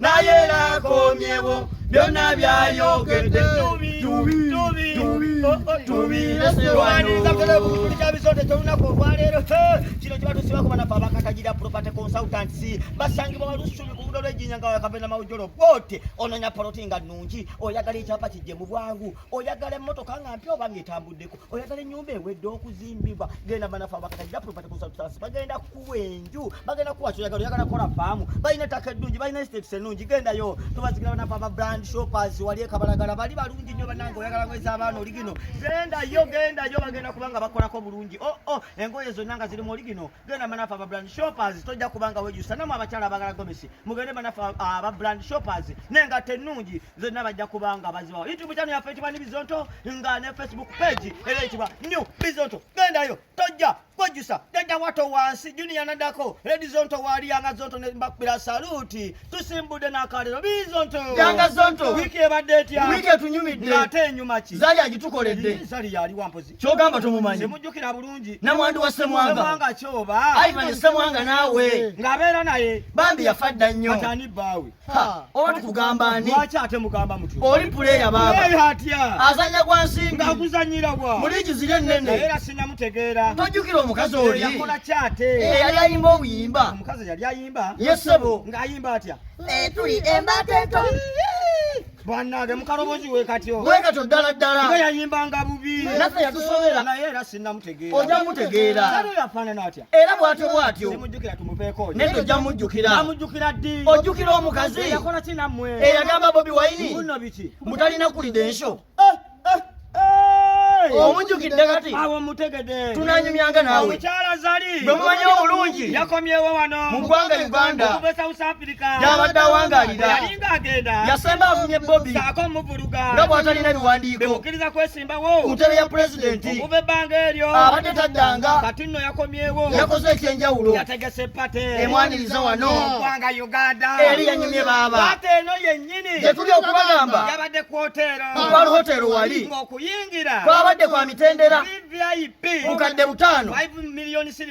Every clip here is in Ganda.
naye lakomyewo byonna byayogedde tubiresewanizabulabulabisonde kyolunaku olwaleero kino kiba tusibako banafe abakatagira property consultants basangibwa balusubi ku budo lwejinya nga wakavena mawujolo bwote ononya poloti nga nungi oyagala ekyapa kijje mu bwangu oyagala emmotoka nga mpya oba nga etambuddeko oyagala ennyumba ewedde okuzimbibwa genda banafe abakatagira property consultants bagenda kuwa enju bagenda kuwa kyoyagala oyagala kola faamu balina ettaka eddungi balina estates ennungi gendayo tubazikira banafe aba brand shoppers wali ekabalagala bali balungi nnyo banange oyagala ngweza abaana oli gino gendayo gendayo bagenda kubanga bakolako bulungi o oh, o oh, engoye zonna nga zirimu oli gino genda banafe aba brand shoppers tojja kubanga wejusa namwe abakyala abagala gomesi mugende banafe aba brand shoppers nengatta ennungi zonna bajja kubanga bazibawo youtube channel yaffe ekibwa ni bizonto nga ne facebook page era ekibwa new bizonto gendayo tojja kwejjusa jajja wato wansi juniya nadako redi zonto wali yanga zonto nembakubira saluti tusimbudde nakalero bii zonto yanga zonto wiiki ebadde etya wiiki etunyumidde ng'ate enyuma ki zali agitukoledde zali yali wampozi kyogamba tumumanyi semujjukira bulungi namwandu wa semwanga semwanga kyoba ivan semwanga naawe ng'abeera naye bambi yafa dda nnyo atani bbaawe oba tukugamba ani lwaki ate mugamba mutyo oli puleya baaba atya azanya gwa nsimbi ngakuzanyira gwa muli kizira ennene era sinamutegeera tojjukira omukazi oli yakola ki ate eyali eh, ayimba obuyimba omukazi yali ayimba yesebo ng'ayimba atya eh, tuli embata ento bwanange mukalobozi wekatyo wekatyo ddala ddala nga yayimbanga bubi naffe yatusobera naye era sinamutegeera oja mutegeera yafaanana atya era bwatyo bwatyo nendo ojja mujjukira ojjukira omukazi eyagamba bobi wayini mutalina kulida ensho eh, eh, eh. omujjukidde kati tunanyumyanga nawe bwe mumanyi obulungi mu ggwanga uganda yabadde awangalira yasemba avumye bobi nga bwatalina biwandiiko ku ntebe ya pulezidenti okuva ebbanga eryo abadde taddanga kati nno yakomyewo yakoze ekyenjawulo yategese pate emwaniriza wano ogwanga uganda eri yanyumye baaba pate eno yennyini gyetuli okubagamba yabadde ku hoteero kukwal hoteero wali ng'okuyingira kwabadde kwa mitendera vvip bukadde butaano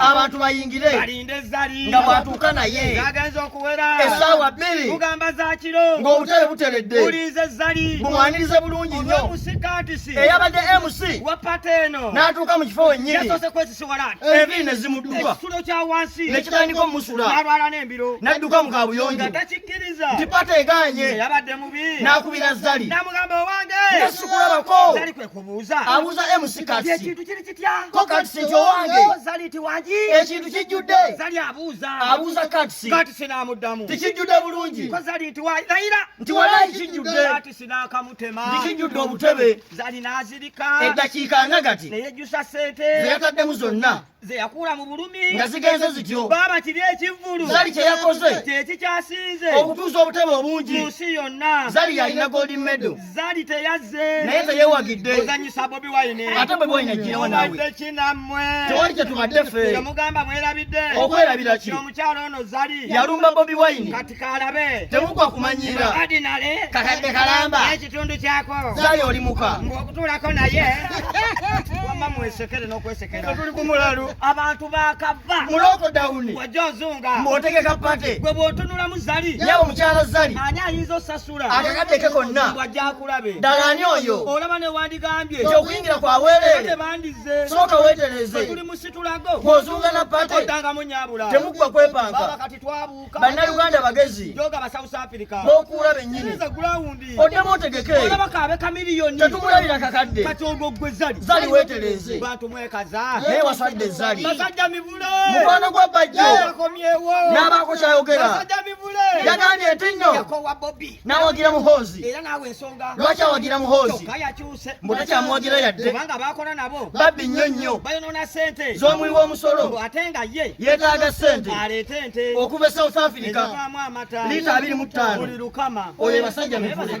abantu bayingire nga bwatuuka naye esaawa bbiri ng'obutale buteredde bumwanirize bulungi nnyo eyabadde mc n'atuuka mu kifo wennyini enviri ne zimudduka ne kitandika omusula n'adduka mu kabuyonjo nti pata egaanye n'akubira zali nasukulabako abuuza mc kati ko katisi kyowange ekintu kijjudde abuuza katisi tikijjudde bulungi nti walayi kijjudde tikijjudde obutebe eddakiika nga gati zeyataddemu zonna zeyakula mu bulumi nga zigenze zityo baaba kiri ekivvulu zali kyeyakoze kyekikyasinze okutuusa obutebe obungi mu nsi yonna zali yalina golden medal Zari teyazze. Naye teyewagidde. Ozanyisa Bobi Wine. Ate Bobi Wine ajirawa nawe. Mubadde ki nammwe? Tewali kye tubadde ffe. Temugamba mwerabidde. Okwerabira ki? Omukyala ono Zari. Yalumba Bobi Wine. Kati kalabe. Temugwa kumanyiira. Kati nale. Kakadde kalamba. Ekitundu kyako. Zari oli muka. Ng'okutuulako naye. Wamma mwesekere n'okwesekera. Tuli ku mulalu. Abantu bakava. Muloko dawuni. Wajja ozunga. Mwotegeka pate. Gwe bw'otunulamu Zari. Yaba omukyala Zari. Ani ayinza osasula. akakadde ke konna ddala ani oyo olaba newandigambye nti okuyingira kwa weereere sooka weetereze bw'ozuuga na pate temuggwa kwepanka bannayuganda bagezi b'okuula bennyini oddemu otegeke tetumulabira kakadde zali weetereze naye wasadde zali mukwano gwa bajjo n'abaako kyayogera yagambye nti nno n'awagira muhoozi lwaki awagira muhoozi mbu takyamuwagira yadde babbi nnyo nnyo z'omuwi w'omusolo yeetaaga ssente okuva e south africa liita abiri mu ttaano oyo ebasajja mivule